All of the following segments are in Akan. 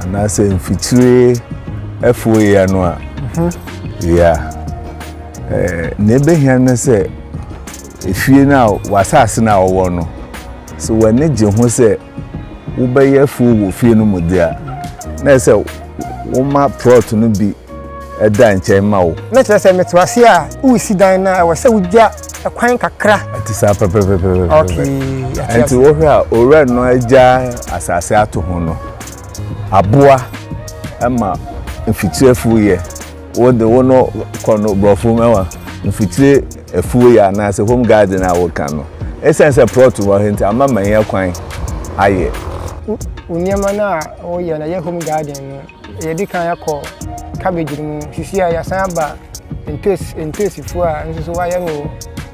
anaasɛ mfikyire afuo yea no a yea na ɛbɛhia no sɛ efie no a w'asase no a wɔwɔ no sɛ w'ani gye ho sɛ wobɛyɛ afuo wɔ fie no mu deɛ a na ɛsɛ woma plot no bi da nkyɛn ma wo. Na kyerɛ sɛ mete w'ase a woresi dan no a, ɛwɔ sɛ wogya kwan kakra. Ɛte saa pɛpɛpɛpɛpɛpɛ. Okay, yɛate ase. Ɛnti wohwɛ a owura no agya asase ato ho no, aboa ma mfitiri afuo yɛ. Wo de wo no kɔ no borɔfo mu ɛwa mfitiri afuo yɛ anaasɛ home garden a woka no. Ɛsiane sɛ plot wɔ ha nti ama manya kwan ayɛ. Wo nneɛma no a woyɛ no ɛyɛ home garden no. Yɛadi kan akɔ cabbage no mu. Sisi a yɛasan aba ntoosi ntoosifuo a nso so wayɛ no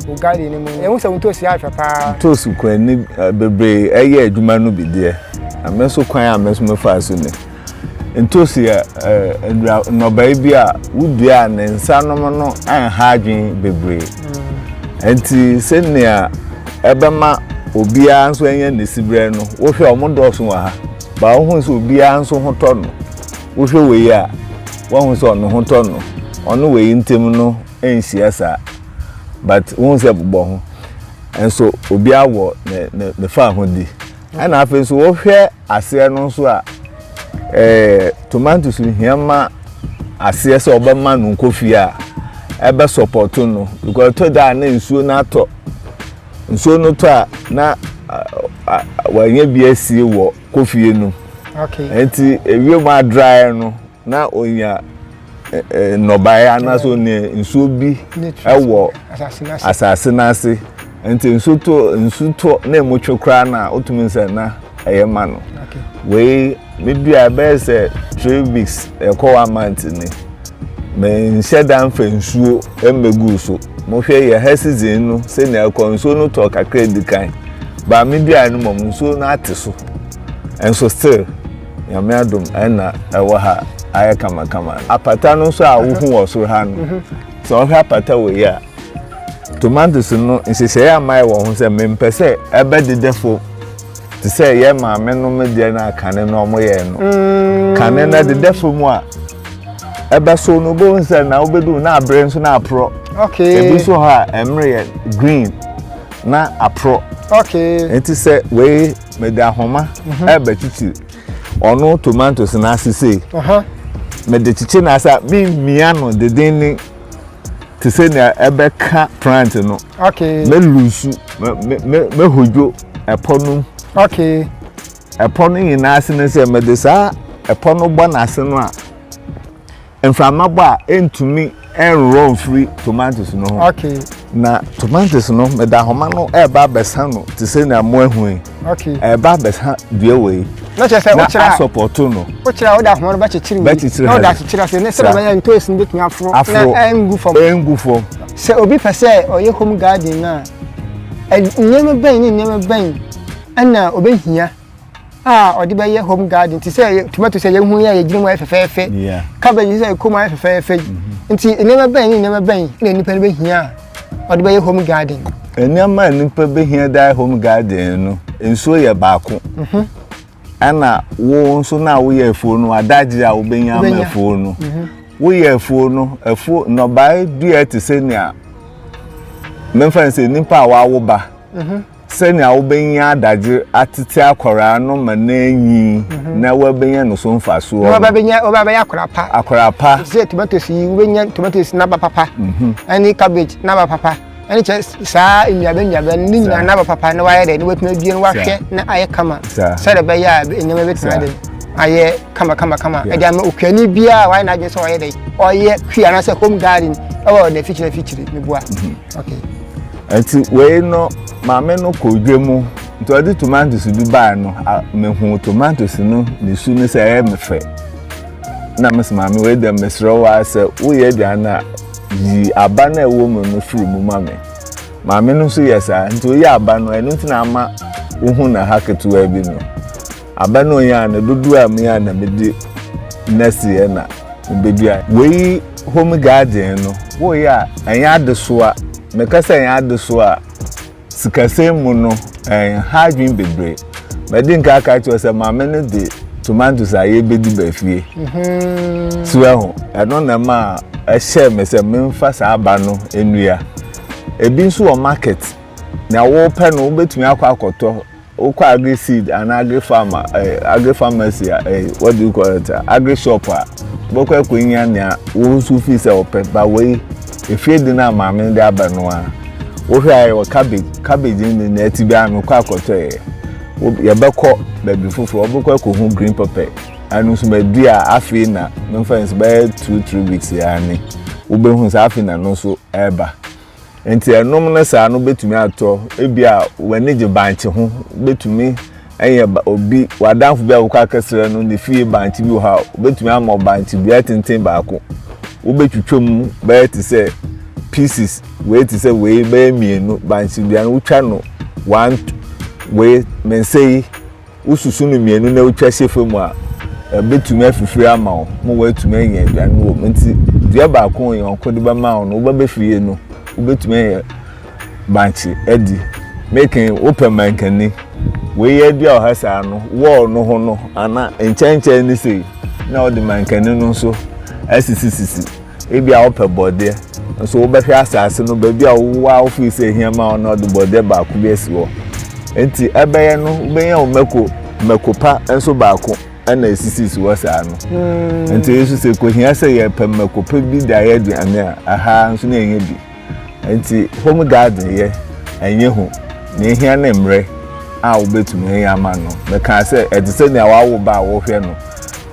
wɔ garden no mu. Yɛhu sɛ wo ntoosi ayɛ fɛ paa. Ntoosi kwan ni bebree yɛ adwuma no bi deɛ. Na me nso kwan a me nso mefaa so ni. Ntoosi yɛ nnua nnɔbae bi a wodua a ne nsa nom no nha adwene bebree. Nti sɛnea ɛbɛma obiara nso anya ne siberɛ no, wohwɛ a wɔdɔɔso wɔ ha. Ba wohu sɛ obiara nso ho tɔ no. Wohwɛ wei a, woahu sɛ ɔno ho tɔ no. Ɔne wei ntam no nhyia saa. But wohu sɛ bobɔ ho. Nso obiara wɔ ne faahodi. Ɛna afei nso wohwɛ aseɛ no nso a, eh, tomatoes hia ma aseɛ sɛ ɔbɛma no nkɔ fie a ɛbɛ support no. Because ɛtɔ da a na nsuo no atɔ. Nsuo no tɔ a na wɔanya bi asie wɔ kofie no. Nti ewiem adrae no na onya nnɔbaeɛ anaasɛ onya nsuo bi wɔ asase no ase. Nti nsu tɔ nsu tɔ na emu twe koraa na wotumi sɛ na ɛyɛ ma no. Wei Me dua bɛyɛ sɛ three weeks ɛkɔ one month ni me nhyɛ da nfa nsuo mmegu so mo hwɛ yɛ ha season no sɛnea ɛkɔ nsuo no tɔ kakra di kan baa me dua no mom nsuo no ate so nso still nyame adom ɛna ɛwɔ ha ayɛ kamakama apata no nso a wohu wɔ soro ha no mhm. sɛ ɔhwɛ apata wɔ yi a tomatoes no nhyehyɛeɛ ama ɛwɔ ho sɛ mempɛ sɛ ɛbɛdedɛ fo te sɛ yɛn maame no me deɛ no a kane no ɔmo yɛn no mm. kane no ɛdeda fam a ɛbɛso no bɛhu sɛ na wobɛdu na abere nso na aporɔ ebi nso hɔ a ɛmere yɛ green na aporɔ nti sɛ wei mede ahoma mhm. ɛbɛkyikyiri ɔno tomatoes no ase sei mede kyekye no ase a memmia no deden ne te sɛ nea ɛbɛka plant no mɛlusu mɛhodwo ɛpɔ no mu. Okay. Ɛpɔ no nyinaa ase no sɛ mede saa ɛpɔ no bɔ n'ase no a mframa bɔ a ɛntumi ɛnworɔ mfiri tomatoes no ho. Okay. Na tomatoes no meda homa no ɛreba abɛsa no te sɛ nea mo ahu yi. Okay. Ɛreba abɛsa dua wɔ yi. Na kyerɛ sɛ wokyerɛ a. Na asɔpɔto no. Wokyerɛ a wode ahoma no bɛkyekyere wei. Bɛkyekyere ha. Na wode akyekyere ase ne sɛ bɛyɛ ntoes no bɛtumi aforo. Aforo. Na ɛngu fam. Ɛngu fam. Sɛ obi pɛ sɛ ɔyɛ home garden no a. Nneɛma bɛn ne nneɛma bɛn na obehia a ɔde bɛyɛ home garden te sɛ tomato sɛ yɛhu yɛ yɛgyina mu ayɛ fɛfɛɛfɛ cabbage sɛ ɛkɔ mu ayɛ fɛfɛɛfɛ yi mhm. nti nneɛma bɛn ne nneɛma bɛn na nnipa no bɛhia a ɔde bɛyɛ home garden nneɛma a nnipa bɛhia de ayɛ home garden no nsuo yɛ baako mhm. ɛna wo nso na woyɛ afuo no adagye a wobɛnya ama afuo no mhm. woyɛ afuo no afuo nnɔbae dua te sɛ nea memfa sɛ nnipa a wawo ba mhm. sɛnea wobɛnya adagye atete akwaraa no ma no anyi mhm. na wabɛnya no so mfasoɔ wobɛbɛyɛ akwaraa pa akwaraa pa sɛ tomatoes yi wobɛnya tomatoes naba papa ɛne cabbage naba papa ɛne kyɛ saa nnuaba nnuaba no ne nyinaa n'aba papa na wayɛ dɛ na watumi adua no wahwɛ na ayɛ kama sɛdeɛ ɛbɛyɛ a nneɛma bɛtumi ade ayɛ kama kama kama ɛde ama okuani biara a wayɛ n'adwene sɛ ɔyɛ dɛ ɔyɛ hwi anaasɛ home garden ɛwɔ n'afikyiri afikyiri meboa mhm. okay nti wei no maame no kɔ dwa mu nti ɔde tomatoes bi baa no mehu tomatoes no ne su no sɛ ɛyɛ me fɛ na mese maame wei dɛm mesrɛ wo ara sɛ woyɛ aduane no a yi aba no a ɛwɔ mu no firi mu ma me maame no nso yɛ saa nti oyɛ aba no ɛno nti na ama wohu na ha ketewa bi no aba no onyɛ a na dodoɔ a meyɛ a na mede nɛseɛ na mebɛdua wei home garden no woyɛ a ɛnyɛ adesoa meka sɛ ɛnyɛ adesoa a Sikasɛm mu no, ɛnha adwene bebree. Madi nka aka akyerɛ wo sɛ maame no de tomatoes a yɛbɛdi ba fie. So ɛho, ɛno na ɛma ɛhyɛɛ me sɛ memfa saa aba no nnua. Ebi nso wɔ market, nea wopɛ no wobɛtumi akɔ akɔtɔ. Wokɔ agri seed anaa agri farmer ɛɛ eh, agri pharmacy a ɛɛ eh, what do you call it agri shop a wobɛkɔ akɔnya nea wo nso fi sɛ ɔpɛ ba wei efie de no a maame de aba no a wohwɛ a ɛwɔ cabbage cabbage ne ne ɛte bi a mekɔ akɔtɔ yɛ yɛbɛkɔ baabi foforɔ wobɛkɔ akɔhu green pepper ɛno nso madi a afei na memfa nso bɛyɛ two three weeks yɛ ane wobɛhu sɛ afei na no nso ɛreba Enti ɛnom no saa no betumi atɔ. Ebia w'ani gye bankye ho. Wobetumi anya obi, w'adamfo bi a wokɔ akɛsrɛ no, ne fie bankye bi wɔ hɔ a, obetumi ama wo bankye dua tenten baako. Wobetwitwa mu bɛyɛ te sɛ pieces, wei te sɛ wei, bɛyɛ mmienu. Bankye dua no, wotwa no one, wei, me nsa yi, wosusu no mmienu na wotwa hyɛ fam a, ɛbɛtumi afifiri ama wo ma woatumi anya aduane no wɔ mu. Nti dua baako a ɔyɔnko de bɛma wo no, woba bɛfie no, wobɛtumi ayɛ bankye adi. Meken wopɛ mankani. Wei yɛ dua ɔha saa no, wɔɔ no ho no, ana nkyɛnkyɛn ne sei na wode mankani no nso asisisisi. Ebia wopɛ borɔdeɛ, nso wobɛhwɛ asase no, baabi a wowɔ a wofii sɛ ehia ma wo no, wɔde borɔdeɛ baako bi asi hɔ. Enti ɛbɛyɛ no, wobɛnya wo mako, mako pa nso baako na esisisi hɔ saa no. Hmm. Enti Yesu sɛ, ekohia sɛ yɛpɛ mako pa bi de ayɛ aduane a, aha nso na yɛnya bi. Ntsi home garden yɛ, nnyɛ hu, nea ehia ne mbrɛ a wobetumi ayɛ ama no. Mekaa sɛ, ɛte sɛ nea wɔawo ba a wɔhwɛ no.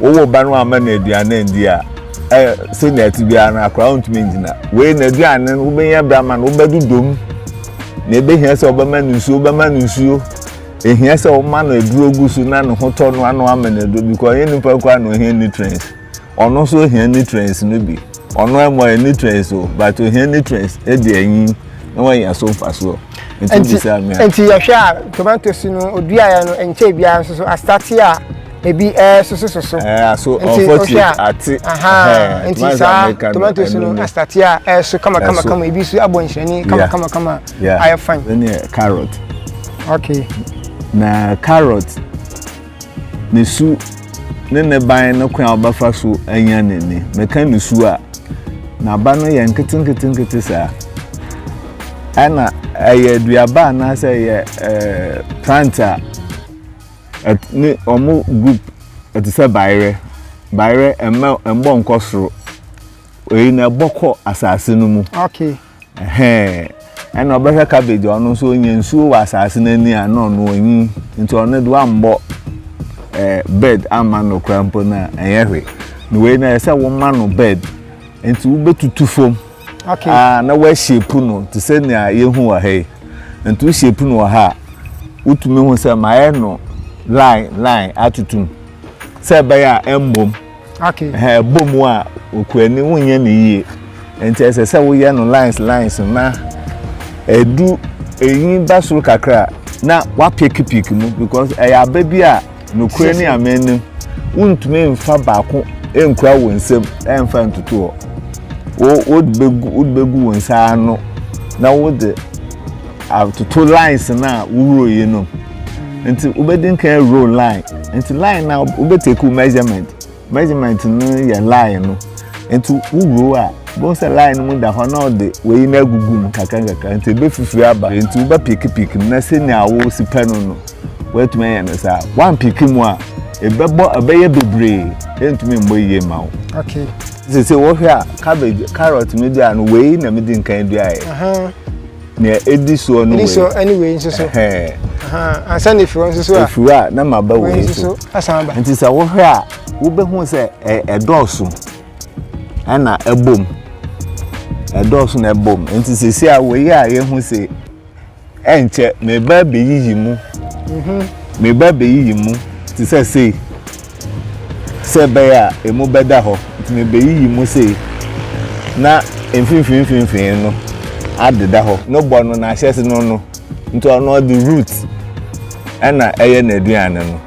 Wowoo ba no amma no aduan anndi a, ɛ, sɛnea ɛte biara no, akora no ntumi ngyina. Wei na aduane no, wobenya bi ama no, wobɛdodɔ mu. Nea ebehia sɛ wobɛma no nsuo, wobɛma no nsuo. Ehia sɛ woma no aduro gu so na ne ho tɔ no ano ama no aduro, because ɛnyɛ nipa koraa na ohia nutrients. Ɔno nso hia nutrients no bi. Ɔno ara mu ayɛ nutrients o, but ohia nutrients de anyin na wanya so mfasoɔ. Nti wobisa me a. Nti yɛhwɛ a tomatoes no oduaeɛ no nkyɛn biara nso so asate a ebi ɛresosososo. Ɛɛ aso unfortunate ate. Nti saa tomatoes no asate a ɛreso kamakamakama ebi nso abɔ nhyerɛnne kamakamakama ayɛ fine. Ɛne carrot. Okay. Na carrot ne su ne ne ban no kwan a ɔbɛfa so anya n'ani. Meka ne su a, n'aba no yɛ nketenketenkete saa. Ɛna ɛyɛ aduaba anaasɛ ɛyɛ ɛɛ plant a ne wɔn group ɛte sɛ bayerɛ. Bayerɛ ɛmɛ ɛmbɔ nkɔ soro. Wei na ɛbɔ kɔ asase no mu. Okay. Ɛhɛɛ, ɛna ɔbɛhwɛ cabbage a ɔno nso ɔnya nsuo wɔ asase no ani a na ɔno ɔnyi nti ɔno de wammɔ ɛɛ eh, bed amma no koraa mpo na ɛnyɛ hwe na wei na ɛsɛ woma no bed nti wobɛtutu fam okay. aa ah, na woahyepu no te sɛ nea yɛhu wɔ ha yi nti wohyepu no wɔ ha a wotumi hu sɛ maayɛ no line line atutum sɛ ɛbɛyɛ a ɛmmom okay ha ɛbɔ mu a okuani wonyɛ ne yie nti ɛsɛ sɛ woyɛ no lines lines na ɛdu eyi ba soro kakra na wapeke pik mu because ɛyɛ aba bi a nokorɛ ne amen nim wontumi nfa baako nkura wɔn nsam ɛnfa ntutu hɔ wode bɛgu wɔn nsa ano na wode atoto lines no a wohoro yi no nti wobɛdi nkan row line nti line na wobɛtake measurement measurement no yɛ line no nti wowuro a bɛhu sɛ line no mu da hɔ na ɔde wei no agugu mu kakrankakra nti ɛbɛfifiri aba nti wobɛpikipiki mu na sɛnea wosi pɛ no no woatumi ayɛ no saa woampiki mu a ɛbɛbɔ ɛbɛyɛ bebree ɛntumi mmɔ yie ma wo okay. sɛ sɛ wohwɛ a cabbage carrot medua no wei na medi nkan duaeɛ Nea edi soɔ no wei. Edi soɔ ɛne wei nso so. Ansa na efiri hɔ nso so a. Efiri a na ma ba wei nso so. Asan ba. Nti sɛ wohwɛ a wobɛhu sɛ ɛdɔɔso ɛna ɛbom. Ɛdɔɔso na ɛbom. Nti sisi a wei a yɛhu se ɛnkyɛ meba bɛyiyi mu. Mhm. Meba bɛyiyi mu te sɛ sei. sɛ ɛbɛyɛ a emu bɛda hɔ, nti mebeyiyi mu sei, na mfimfini mfimfini no adeda hɔ. No bɔ no n'ahyɛse no no, nti ɔno ɔde root ɛna ɛyɛ n'aduane no.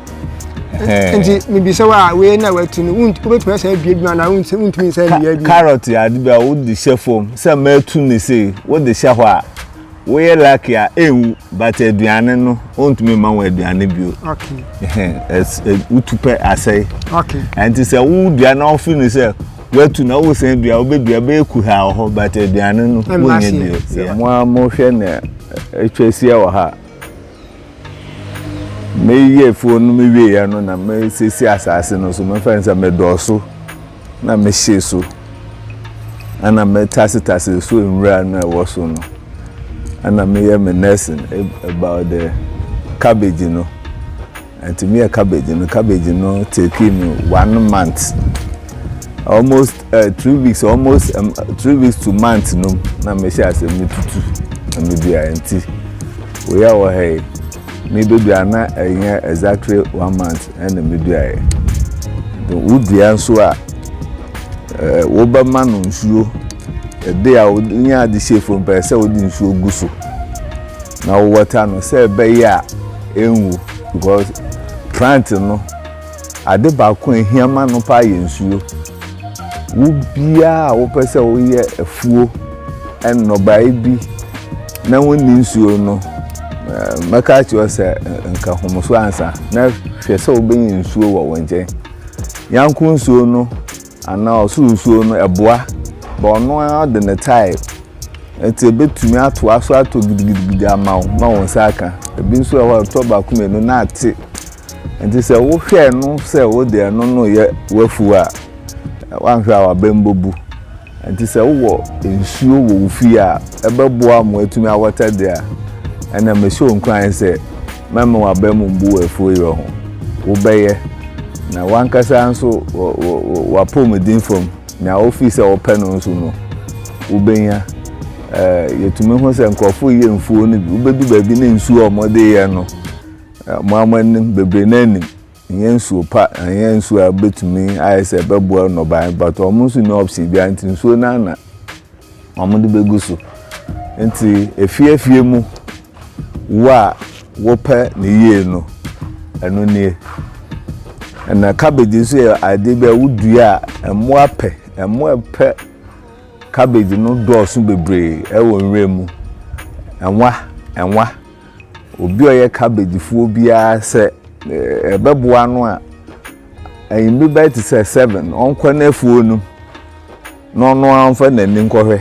Nti mibisa wo a, wei na watu no, wobɛtumi asan abie bi ma anaa wontumi nsan mmia bi? Carrot yɛ ade bi a wode hyɛ fam sɛ matu no sei, wode hyɛ hɔ a, Woyɛ lucky a enwu but aduane no ontumi ma wo aduane bio. Okay. Wotu pɛ asɛe. Okay. Ɛnti sɛ wo dua na wofi no sɛ watu na wosan dua wobɛdua bɛyɛ kuhaa wɔ hɔ but aduane no wonyɛ bio. Sɛ mo a mohwɛ na atwa ahyia wɔ ha meyɛ fuo no mewieɛ no na mesiesie asase no so mefɛn sɛ medɔɔso. na mehyee so, ɛna metasetase so nwura no a ɛwɔ so no, ɛna meyɛ me nursing about the cabbage no. Nti meyɛ cabbage no, cabbage no take me one month, almost uh, three weeks, almost um, three weeks to month no, na mehyɛ ase metutu na medua nti, woyɛ wɔ ha yi, mebɛdua na ɛnyɛ exactly one month. ɛna meduaeɛ. Wo dua nso a, wobɛma no nsuo. Ɛde a wonya ade hyɛ fam pɛɛ sɛ wode nsuo gu so na wowɔta no sɛ ɛbɛyɛ a ɛnwu because plant no ade baako a ɛhia ma no paa yɛ nsuo. Wo biara a wopɛ sɛ woyɛ afuo nnɔbaeɛ bi na wonni nsuo no, mɛka akyerɛ sɛ nka hom so ansa na hwɛ sɛ wobɛnya nsuo wɔ wo nkyɛn. Yanko nsuo no anaa ɔsoro nsuo no ɛboa ba ɔno ara de ne tae nti ebɛtumi atoa so atɔ gidigidigidi ama wo ma wo nsa aka. Ebi nso wɔ hɔ a ɛtɔ baako mmienu na ate. Enti sɛ wohwɛ no sɛ wode ɛno no reyɛ w'afuw a, woanhwɛ a w'abam bebu. Enti sɛ wowɔ nsuo wɔ wo fie a ɛbɛboa ma woatumi awɔta de a, ɛnna mehyɛ wo nkuran sɛ, mɛma w'abam mbu wɔ afuo yerɛ ho. Wobɛyɛ, na w'ankasa nso wɔ w'apɔwmuden fam, nea wofii sɛ wopɛ no nso no, wobɛnya. Yɛtumi hu sɛ nkurɔfo reyɛ mfuo no bi, wobedu baabi na nsuo a wɔde reyɛ no, Mo ara moanim, bebree no ara nim, ɛnyɛ nsuo pa, ɛnyɛ nsuo a ɛbɛtumi ayɛ sɛ ɛbɛboa nnɔbaeɛ, but wɔn nso nni option biara nti nsuo no ara na wɔde bɛgu so. Nti efie efie mu wo a wopɛ ne yie no, ɛno nie. Na cabbage nso yɛ adeɛ bi a wodua a mmoa pɛ, mmoa pɛ cabbage no dɔɔso bebree ɛwɔ nwura mu. Ɛnwa, ɛnwa. obi a ɔyɛ cabbage fuo biara sɛ ɛbɛboa no a anwummerɛ bɛyɛ te sɛ seven ɔnkɔ n'afuo no na ɔno ara mfa n'ani nkɔhwɛ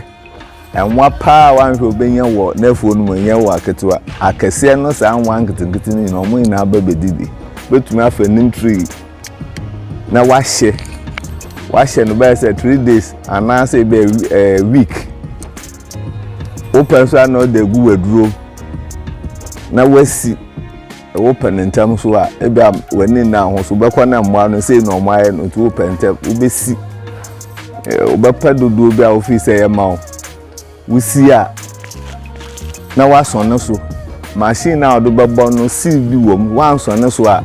nwa paa wanhwɛ obɛnya wɔ n'afuo no mu nyɛ wɔ aketewa akɛseɛ no saa nwa nketenkete no nyinaa ɔmo nyinaa bɛ bɛdi bi bɛtumi afa nim tree na wahyɛ wahyɛ no bɛyɛ sɛ three days anaasɛ bɛyɛ eh, week wo pɛ nso a na ɔde agu w'aduro na wasi wo pɛ no ntɛm so a ebi a w'ani nna ho so wobɛkɔ na mmoa no sei na ɔmo ayɛ no nti wo pɛ ntɛm wobɛsi wobɛpɛ dodoɔ bi a wofii sɛ yɛ ma wo wosi a na woasɔn no so machine no a wɔde bɛbɔ no seal bi wɔ mu woansɔn no so a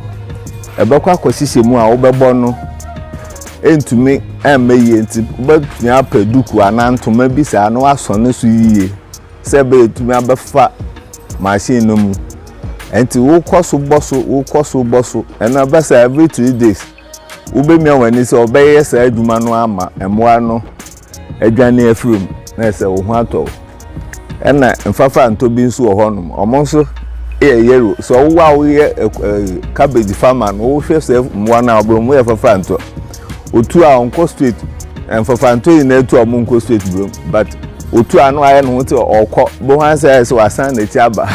ɛbɛkɔ akɔhyehyɛ mu a wobɛbɔ no ɛntumi ɛmmɛ yie nti wobɛtumi apɛ duku anaa ntoma bi saa na wasɔ ne so yie sɛ ɛbɛyɛ ɛtumi abɛfa machine no mu nti wokɔ so bɔ so wokɔ so bɔ so ɛno ɛbɛ sɛ every three days wobɛmia w'ani sɛ ɔbɛyɛ saa adwuma no ama mmoa no adwane afiri mu na ɛsɛ wo ho atɔ wo ɛna mfafa ntɔ bi nso wɔ hɔnom ɔmo nso yɛ yellow sɛ ɔwo a woyɛ ɛɛ cabbage farmer no wohwɛ sɛ mmoa no a ɔbɛn mu yɛ fafa ntɔ otu a ɔnkɔ straight mfafa ntɔ yi na etu a ɔmo nkɔ straight brom but otu a no ayɛ ne ho te ɔkɔ bo ho asɛ ayɛ sɛ wasan n'akyi aba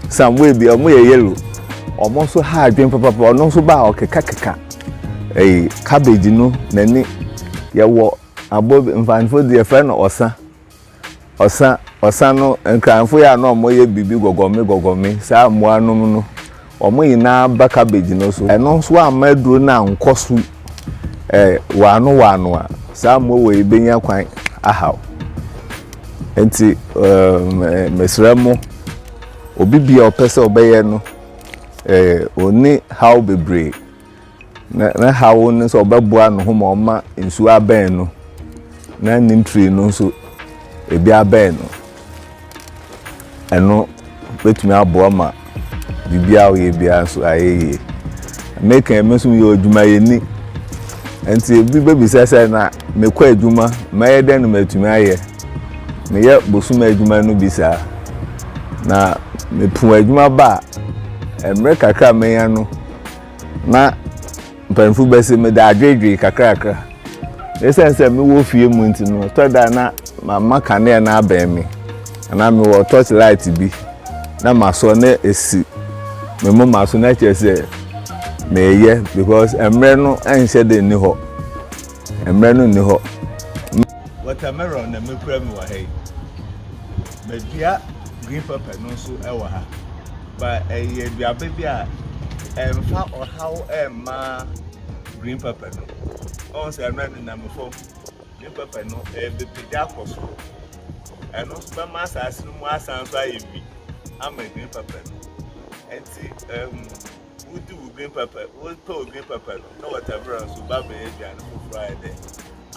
sambo ebi ɔmo yɛ yellow ɔmo nso ha adwen papapa ɔno nso ba a ɔkeka keka ɛɛ cabbage no n'ani yɛwɔ. Aboa bi, Mfanyefo de yɛfrɛ no ɔsa. Ɔsa, ɔsa no, Nkranfo yi a na wɔyɛ biribi gɔgɔme gɔgɔme, saa mmoa nom no, wɔn nyinaa ba cabbage no so. Ɛno nso amma aduru no ankɔ so ɛ, wɔano wɔano a, saa mmoa wei yi benya kwan ahaw. Enti ɛ, mesrɛ mo, obi biara a ɔpɛ sɛ ɔbɛyɛ no ɛ, onni haw bebree. Na ne haw ne sɛ ɔbɛboa ne ho ma ɔma nsuo abɛn no na ne ntiri no nso ebi abɛn no ɛno bɛtumi aboa ma biribi a ɔyɛ biara nso ayɛ yie meka ɛmi nso yɛ adwumayɛni nti ebi bɛbisa sɛ na mekɔ adwuma mɛyɛ dɛn na matumi ayɛ meyɛ bosom adwuma no bi saa na mepo adwuma ba a mmerɛ kakra a menya no na mpanyimfo bɛse mede adwedwee kakrakra. Esiane sɛ mewɔ fie mu nti no, ɛtɔ da na mama kanea no abɛn me, anaa mewɔ torch light bi na masɔ na esi me moma so na kyerɛ sɛ meyɛ because mmerɛ no nhyɛ de nni hɔ. Mmerɛ no nni hɔ. Watermelon na mekura me wɔ ha yi. Madua green pepper no nso wɔ ha. ba ɛyɛ aduaba bi a ɛmfa ɔhaw ɛmma green pepper no ɔn sɛ ɛno ɛnenam fam green pepper no ɛbɛpagya akɔ soro ɛno nso bɛma asase no mu asan so ayɛ bi ama green pepper no ɛnti ɛm wodi wo green pepper wotɔ wo green pepper no na wɔtɛbrɛ nso ba bɛyɛ aduane foforɔ ayɛ dɛ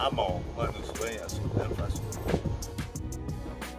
ama wɔn ma no nso wɔanya so ɛmfa so.